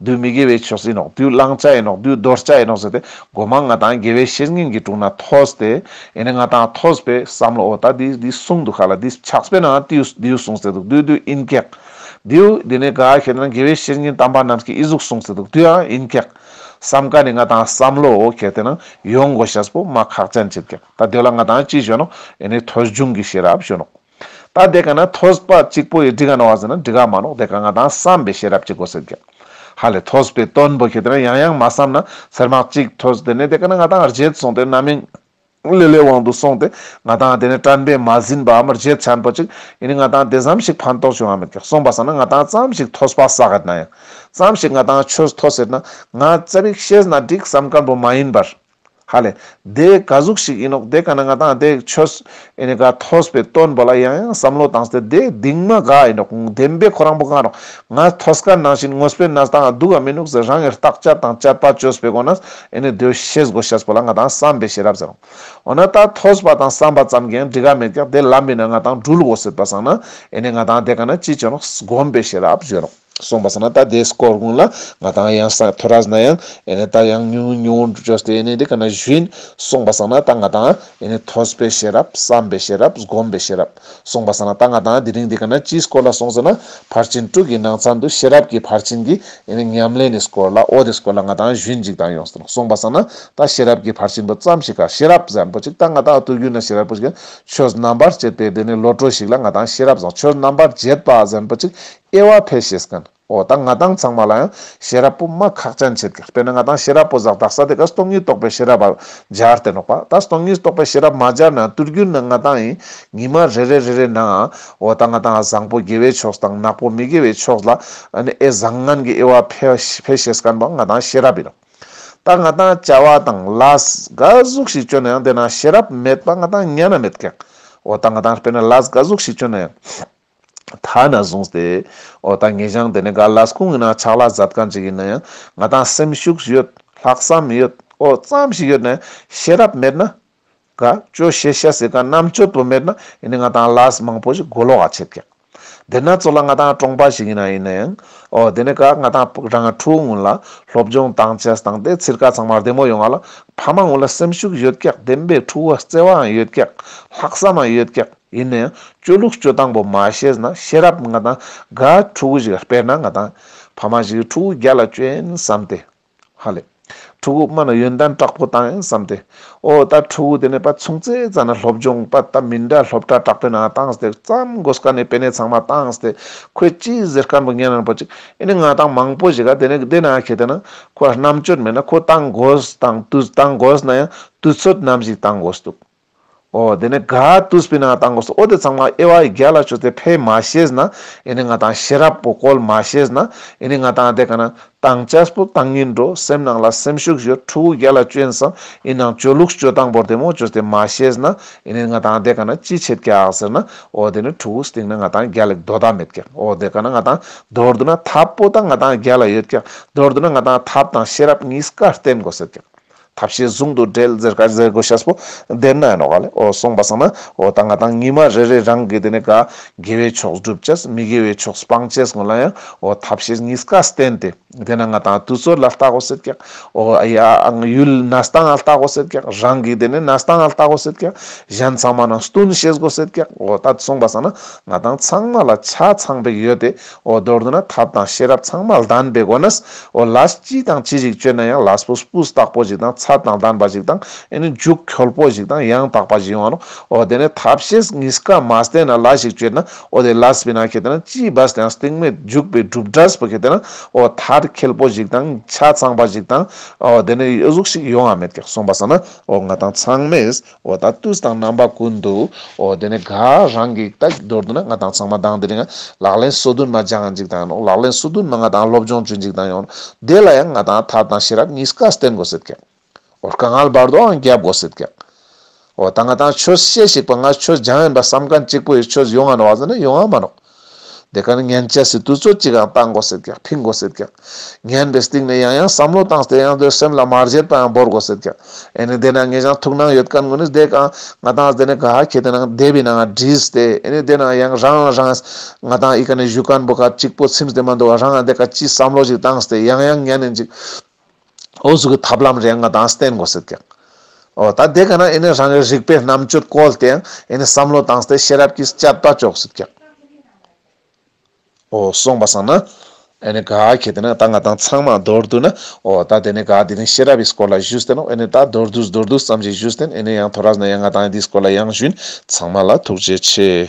བདུད་མི་དགེ་བའི་ཆོས་ཡིན་ནོ་བདུད་བླང་བྱ་ཡིན་ནོ་བདུད་འདོར་བྱ་ཡིན་ནོ་ཟེར་ཏེ་སྒོ་མང་ལྔ་དང་དགེ་བའི་བཤེས་གཉེན་གྱི་དྲུང་ན་ཐོས་ཏེ། ཡེ་ནས་ང་དང་ཐོས་པས་བསམ་ལོ་འོ་ད་འདི་འདི་གསུངས་འདུག་ག་ལ་འདི་ཕྱག་སྤེལ་ནའང་དེའུ་དེའུ་གསུངས་ཟེར་འདུག་དེའུ་དེའུ་ཨིན་ཀེག། དེའུ་འདི་ནས་ག་ཞེ་ན་དགེ་བའི་བཤེས་གཉེན་དམ་པ་རྣམས་ཀྱི་ཨི་གཟུགས་གསུངས་ཟེར་འདུག་དེའུ་ཨང་ཨིན་ཀེག། བསམ་ག་ནས་ང་དང་བསམ་ལོ་འོ་གལ་ཏེ་ན་ཡོང་གོ་ཞེས་པོ་མ་ཁག་ཅན་ཅེར་ཀེག་ད་འདོད་ལ་ང་དང་ཅི་བྱོན་ནོ་ཡེ་ནས་ཐོས་འབྱུང་གི་ཤེས་རབ་བྱོན་ནོ། ད་དེ་ག་ན་ཐོས་པ་གཅིག་པོ་ཡི་འདི་ག་ན་བ་ཟེར་ན་འདི་ག་མ་ནོག་དེ་ག་ང་དང་བསམ་པའི་ཤེས་རབ་ཀྱི་གོ་སེར་གྱི། ཧ་ལས་ཐོས་པའི་དོན་བོ་ཁྱེད་དེ་ན་ཡང་ཡང་མ་བསམ་ན་ཟེར་མ་གཅིག་ཐོས་དེ་ནས་དེ་ག་ན་ང་དང་རྗེད་སོང་དེ་ན་མིན། ལི་ལི་དབང་དུ་སོང་དེ་ང་དང་དེ་ནས་དྲན་པས་མ་ཟིན་པའམ་རྗེད་ཆན་པོ་གཅིག་ཡི་ནི་ང་དང་དེ་ཙམ་ཞིག་ཕན་ཐོག་བྱུང་ཡང་མེད་ཀྱི་སོང་པ་ཟེར་ན་ང་དང་ཙམ་ཞིག་ཐོས་པ་ཟ་ག་ན་ཡང་ཙམ་ཞིག་ང་དང་ཆོས་ཐོས་ཟེར་ན་ང་ཙམ་ཡིག་ཤེས་ན་འགྲིག་བསམ་ཀན་པོ་མ་ཡིན་པར། ཧ་ལས། དེ་ག་གཟུགས་ཤིག་ཡིན་ནོ། དེ་ག་ན་ང་དང་དེ་ཆོས་ཨེ་ནི་ག་ཐོས་པའི་སྟོན་པ་ལ་ཡང་ཡང་བསམ་བློ་བཏང་སྟེ་དེ་གདིང་མ་ག་ཡིན་ནོ། བདེན་པའི་ཁོ་རང་བོ་གང་རུང་ང་ཐོས་སྐད་ནང་བཞིན་ངོས་པའི་ན་དང་སྡུག་ག་མི་ནུག་ཟེར་རང་ངེར་བརྟག་དཔྱད་དང་དཔྱད་པ་བཅོས་པའི་སྒོ་ནས་ཨེ་ནི་དོལ་ཤེས་སྒོ་ཤེས་པོ་ལ་ང་དང་བསམ་པའི་ཤེས་རབ་ཟེར་རོ། འོ་ན་ད་ཐོས་པ་དང་བསམ་པ་ཙམ་གྱིས་འགྲིག་ག་མེད་ཀྱང་དེ་ལམ་མིན་ན་ང་དང་སྦྲུལ་བོ་སྲིད་པ་བཟང་ན་ཨེ་ནི་ང་དང་དེ་ག་ན་ཅི་བྱུང་རུང་སྒོམ་པའི་ཤེས་རབ་བརྗོད་རོགས། གསུངས་པ་ཟ་ན་ད་དེས་སྐོར་དགུང་ལ་ང་དང་ཡང་ས་མཐོ་ར་ཟིན་ན་ཡང་ཨེ་ནས་ད་ཡང་ཉུང་ཉུང་འགྲུ་ཆོས་དེ་ནས་དེ་ག་ན་བཞུན་གསུངས་པ་ཟ་ན་ད་ང་དང་ཨེ་ནས་ཐོས་པའི་ཤེས་རབ་བསམ་པའི་ཤེས་རབ་སྒོམ་པའི་ཤེས་རབ་གསུངས་པ་ཟ་ན་ད་ང་དང་དེ་རིང་དེ་ག་ན་ཅིས་སྐོར་ལ་སོང་ཟེར་ན་ཕར་ཕྱིན་དྲུག་གི་ནང་ཚང་དུ་ཤེས་རབ་ཀྱི་ཕར་ཕྱིན་གྱི་ཨེ་ནས་ཉམས་ལེན་ནས་སྐོར་ལ་ཨོ་དེས་སྐོར་ལ་ང་དང་བཞུན་ཅིག་དང་ཡོང་གསུངས་པ་ཟ་ན་ད་ཤེས་རབ་ཀྱི་ཕར་ཕྱིན་པོ་ཙམ་ཞིག་ག་ཤེས་རབ་བཟང་པོ་ཅིག་ད་ང་དང་ཨུཏུ་གུ་ན་ཤེས་རབ་པོ་ཞིག་ཆོས་རྣམ་པར་དཔྱད་པའི་དེ་ནས་བློ་གྲོས་ཤིག་ལ་ང་དང་ཤེས་རབ་བཟང་ཆོས་རྣམ་པར་འབྱེད་པ་བཟང་པོ་ཅིག་ཨེ་ཝྃ་ཕལ་ཤེས་ཀན་ཨོ་དང་ང་དང་ཚང་མ་ལ་ཡང་ཤེས་རབ་པོ་མ་ཁག་ཅན་བྱེད་དགོས་དཔེར་ན་ང་དང་ཤེས་རབ་པོ་བཟག་བདག་ས་དེ་ག་སྟོང་ཉིད་རྟོགས་པའི་ཤེས་རབ་སྦྱར་ཏེ་ལོག་པ་ད་སྟོང་ཉིད་རྟོགས་པའི་ཤེས་རབ་མ་སྦྱར་ན་ཏུར་གྱུར་ན་ང་དང་ཡིན་ཉི་མ་རེ་རེ་རེ་རེ་ན་ཨོ་དང་ང་དང་བཟང་པོ་དགེ་བའི་ཕྱོགས་སུ་དང་ནག་པོ་མི་དགེ་བའི་ཕྱོགས་ལ་ཨནི་ཨེ་བཟང་ངན་གྱི་ཨེ་ཝྃ་ཕལ་ཤེས་ཀན་པོ་ང་དང་ཤེས་རབ་ཡིན་ད་ང་དང་བྱ་བ་དང་ལ་ག་གཟུགས་ཤིག་སྤྱོད་ན་ཡང་དེ་ན་ཤེས་རབ་མེད་པ་ང་དང་ཉན་ན་མེད་ཀན་ཨོ་དང་ང་དང་དཔེར་ན་ལ་ག་གཟུགས་ཤིག་སྤྱོད་ན་ཡང། ཐ་ན་བཟུང་སྟེ། འོ་ད་ངེད་ཅག་འདི་ནས་ག་ལ་སྐུང་ཡིན་ན་ཆགས་ལ་གཟབ་གང་ཅིག་ཡིན་ན་ཡང་ང་དང་སེམས་ཤུགས་ཡོད། ལྷག་བསམ་ཡོད། ཨོ་རྩམ་ཞིག་ཡོད་ནས་ཤེས་རབ་མེད་ན། ག་ཅོ་ཤེས་ཤ་ཟེར་ག་རྣམ་དཔྱོད་པོ་མེད་ན་ཡིན་ནས་ང་དང་ལ་ས་མང་པོ་ཞིག་མགོ་ལོག་ག་ཆད་ཀྱང། འདི་ན་ཚོ་ལ་ང་དང་ཀྲོང་པ་ཞིག་ཡིན་ན་ཡིན་ན་ཡང། འོ་འདི་ནས་ག་ང་དང་ཕུག་རང་ཡང་ཕྲུག་ངུ་ལ་སློབ་སྦྱོང་དང་ཆས་དང་དེ་ཚིར་ག་ཚང་མ་བདེ་མོ་ཡོང་ག་ལ་ཕ་མ་ངུ་ལ་སེམས་ཤུགས་ཡོད་ཀྱག་བདེན་པའི་ཕྲུ་བ་བརྩེ་བའང་ཡོད་ཀྱག་ལྷག་བསམ་ཡང་ཡོད་ཀྱག། ཡིན་ན་ཡང་སྤྱོད་ལུགས་སྤྱོད་སྟངས་པོ་མ་ཤེས་ན་ཤེས་རབ་ང་དང་དགའ་ཕྲུ་གུ་ཞིག་ལ་སྤེལ་ན་ང་དང། ཕ་མ་ཞིག་གིས་ཕྲུ་གུ་རྒྱ་ལ་བསྐྱོད་ཡིན་བསམ་སྟེ། ཧ་ལས། ཕྲུ་གུ་སྨྲ་ན་ཡོན་ཏན་དྲག་པོ་བཏང་ཡིན་བསམ་སྟེ། ཨོ་ད་ཕྲུ་གུ་དེ་ནས་པ་ཚུང་རྩེ་རྩ་ན་སློབ་སྦྱོང་པ་ད་མི་འདྲ་སློབ་གྲྭ་དྲག་པོའི་ནང་བཏང་སྟེ་བརྩམས་དགོས་ཀ་ནས་པེ་ནས་ཚང་མ་བཏང་སྟེ་ཁོས་སྤྱིའི་གཟེར་སྐམ་པོ་ངན་རན་པོ་ཅིག་ཨེ་ནས་ང་དང་མང་པོ་ཞིག་ག་དེ་ནས་དེ་ན་ཁེ་དེ་ན་ཁོ་ལ་རྣམ་དཔྱོད་མེད་ན་ཁོ་བཏང་དགོས་དང་བཏང་དགོས་ན་ཡང་དུས་ཚོད་ནམ་ཞིག་བཏང་དགོས་འདུག། ཨོ་དེ་ནས་ག་ཏུ་སྤི་ན་བཏང་དགོས་སོ་ཨོ་དེ་ཚང་མ་དབྱེ་བ་བརྒྱ་ལ་བཅུ་སྟེ་ཕས་མ་ཤེས་ན་ཨེ་ནི་ང་དང་ཤེས་རབ་པོ་བཀོལ་མ་ཤེས་ན་ཨེ་ནི་ང་དང་དེ་ག་ན་དང་ཅཱས་པོ་དང་གཉིས་འགྲོ་སེམས་ནང་ལ་སེམས་ཤུགས་བཞུར་ཕྲུ་གུ་བརྒྱ་ལ་བཅུ་ཨེན་སམ་ཨིན་ནང་བཅུ་ལུགས་བཅུ་དང་པོར་དེ་མོ་བཅུ་སྟེ་མ་ཤེས་ན་ཨེ་ནི་ང་དང་དེ་ག་ན་ཅི་བྱེད་ཀྱ་ཟེར་ན་ཨོ་དེ་ནི་ཕྲུ་གུ་སྟེང་ན་ང་དང་བརྒྱ་ལས་དོ་ད་མེད་ཀྱ་ཨོ་དེ་ག་ན་ང་དང་དོར་བསྡུ་ན་ཐབས་པོ་དང་ང་དང་བརྒྱ་ལ་ཡོད་ཀྱ་དོར་བསྡུ་ན་ང་དང་ཐབས་དང་ཤེས་རབ་གཉིས་ཀ་བསྟེན་དགོས་ཟེར་ཀྱ། ཐབས་ཤེས་ཟུང་དུ་འབྲེལ་ཟེར་ག་ཟེར་གོ་ཤཱས་པོ། དེར་ན་ཡང་ནོ། གསུངས་པ་སང་ན། ད་ང་དང་ཉི་མ་རེ་རེ་རང་གི་དེ་ནས་དགའ། དགེ་བའི་ཕྱོགས་བསྒྲུབ་བྱས། མི་དགེ་བའི་ཕྱོགས་སྤང་བྱས་སྔོན་ལ་ཡང། ཐབས་ཤེས་གཉིས་ཀ་བསྟན་ཏེ། དེ་ན་ང་དང་དུས་ཚོད་ལ་བལྟ་གོ་ཟེར་ཀྱང། ཡུལ་ན་ལྟ་ང་ལྟ་གོ་ཟེར་ཀྱང། རང་གི་དེ་ནས་ན་ལྟ་ང་ལྟ་གོ་ཟེར་ཀྱང། གཞན་ཚང་མ་ན་བསྟུན་ཤེས་གོ་ཟེར་ཀྱང། ད་གསུངས་པ་སང་ན། ང་དང་ཚང་མ་ལ་ཆ་ཚང་པའི་ཡོད་དེ། འོ་མདོར་ན་ཐབས་དང་ཤེས་རབ་ཚང་མ་ལྡན་པའི་སྒོ་ནས་འོ་ལ་སྤྱི་དང་སྤྱི་རིགས་སྤྱོད་ན་ཡང་ལ་སྤུ་སྤུས་དག་པོ་ཞིག་དང་ཚད་དང་ལྡན་པ་ཞིག་དང་ཨེ་ནི་འཇུག་འཁྱོལ་པོ་ཞིག་དང་ཡང་དག་པ་ཞིག་ཡོང་བ་ནོ། འོ་དེ་ནས་ཐབས་ཤེས་གཉིས་ཀ་མ་བསྟེན་ན་ལ་ཞིག་སྤྱོད་ན་འོ་དེ་ལ་སྤི་ན་ཁེ་ཏེ་ན་སྤྱིའི་བས་དེའང་སྟེང་མེད་འཇུག་པའི་གྲུབ་འབྲས་སྤུ་ཁེ་ཏེ་ན་འོ་ཐར་འཁྱེལ་པོ་ཞིག་དང་ཆ་ཚང་པ་ཞིག་དང་འོ་དེ་ནས་གཡོ་གཟུགས་ཤིག་ཡོང་བ་མེད་ཀྱང་གསུངས་པ་ས་ན་འོ་ང་དང་ཚང་མས། འོ་ད་ཏུས་དང་རྣམ་པ་ཀུན་ཏུ་འོ། དེ་ནས་དགའ་རང་གིས་ལྟ་མདོར་བསྡུ་ན་ང་དང་ཚང་མ་དང་དེ་རིང་ལག་ལེན་སོ་བདུན་མ་སྦྱངས་འཇིག་དང་ཡོང་ལག་ལེན་སོ་བདུན་མ་ང་དང་སློབ་སྦྱོང་བྱོས་འཇིག་དང་ཡོང་དེ་ལ་ཡང་ང་དང་ཐར་དང་ཤེས་རབ་གཉིས་ཀ་བསྟེན་དགོས་ཟེར་ཀྱང་འོ་དཀའ་ངལ་བར་དོའང་རྒྱབ་དགོས་ཟེར་ཀྱང་འོ་ད་ང་དང་ཁྱོད་བཤད་ཞིག་པ་ང་ཁྱོད་སྦྱངས་ཡིན་པ་བསམ་ག་གཅིག་པོ་ཡོད་ཁྱོད་ཡོང་ང་ནོ་བ་ཟེར་ན་ཡོང་ང་མ་རོགས། འདི་གར་ངན་བྱས་ཟིན་དུས་ཚོད་ཅིག་ཡང་བཏང་དགོས་ཟེར་ཀྱང་ཕིང་དགོས་ཟེར་ཀྱང། ངན་པའི་སྟེང་ནས་ཡང་ཡང་བསམ་བློ་བཏང་སྟེ་ཡང་དོན་སེམས་ལ་མར་བཞེར་པ་ཡང་འབོར་དགོས་ཟེར་ཀྱང། ཨེ་ནི་དེ་ན་ངས་ཀྱང་ཐུགས་སྣང་ཡོད་ག་ངུ་ནི་བསྡད་ག། ང་དང་ཟླས་ནི་ག་ཁྱེད་དེ་ན་བསྡད་པའི་ནང་བྲིས་ཏེ་ཨེ་ནི་དེ་ན་ཡང་རང་ཡང་རང། ང་དང་ཨི་ག་ནི་བཞུགས་ག་འབུ་ག་གཅིག་པོ་ཚིམས་ཏེ་མ་འདུག་ག་རང་ཡང་བསྡད་ག་ཅིས་བསམ་བློ་ཞིག་བཏང་སྟེ་ཡང་ཡང་ངན་ནི་འཇིགས། ཨོ་གཟུགས་ཀྱི་ཐབས་ལམ་རེ་ང་དང་བསྟན་དགོས་ཟེར་ཀྱང། ཨོ་ད་དེ་ག་ན་ཨེ་ནས་རང་གི་རིག་པའི་རྣམ་དཔྱོད་བཀོལ་ཏེ་ཨེ་ནས་བསམ་བློ་བཏང་སྟེ་ཤེས་རབ་ཀྱིས་དཔྱད་པ་ཅོག་ཟེར་ཀྱང། ཨོ་སོང་བ་སང་ན་ཨེ་ནས་ག་གལ་ཏེ་ན་ད་ང་དང་ཚང་མ་མདོར་བསྡུ་ན་ཨོ་ད་དེ་ནས་ག་དེ་ནས་ཤེས་རབ་ཡིས་སྐོར་ལ་བཞུད་བསྟན་ཨོ་ཨེ་ནས་ད་མདོར་བསྡུ་མདོར་བསྡུ་ཙམ་ཞིག་བཞུད་བསྟན་ཨེ་ནས་ཡང་ཐོ་ར་ཟནས་ཡང་ང་དང་དེའི་སྐོར་ལ་ཡང་བཞུད་ཚང་མ་ལ་ཐུགས་རྗེ་ཆེ།